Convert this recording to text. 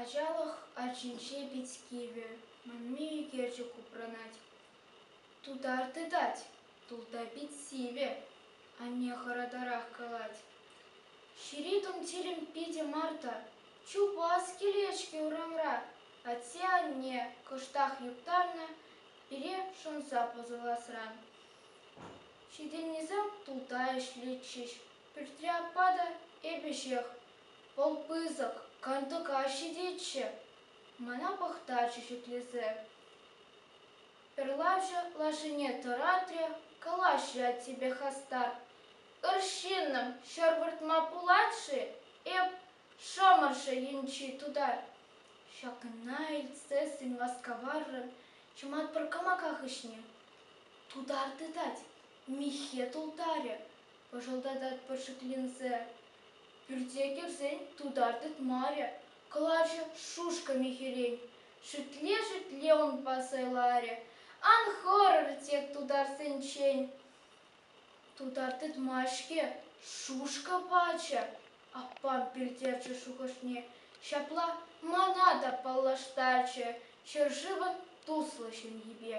Ачалӑх арчинче пит кивӗ, манми ӳкерчӗк упранать. Тутар тытать, тулта пит сивӗ, анне хӑратарах калать. Ҫӳри тумтирӗм питӗ марта, чупас килет-ҫке урамра. Атте-анне кӑштах юптарнӑ, пире шӑнса пӑсӑласран. Ҫитӗннисем тулта ӗҫлетчӗҫ, Пӳртре аппа та эпӗ ҫех. Вӑл пысӑк, кантӑка ҫитетчӗ. Мана пӑхтарчӗ шӳтлесе. Пӗрлавҫӑ лашине тӑратрӗ, Калаҫ, ять себе хастар. Ыр ҫыннӑм, ҫӗр выртма пулать-ши эп Шӑмӑршӑ енчи тутар? Ҫакна илтсессӗн васкаваррӑн чӑмат пӗр кӑмака хыҫне тутар тытать, миххе тултарӗ, пӑшӑлтататпӑр шикленсе. Пӳрте кӗрсен тутар тытмарӗ, кӑлачӑ шушка михӗрен шӳтле-шӳтле унпа сӑйларӗ. Ан хӑрӑр тек тутарсенчен. Тутар тытма-ҫке, шушка пачӗ аппам пӗлтерчӗ шухӑшне. Ҫапла мана та паллаштарчӗ ҫӗршывӑн туслӑ ҫемйипе.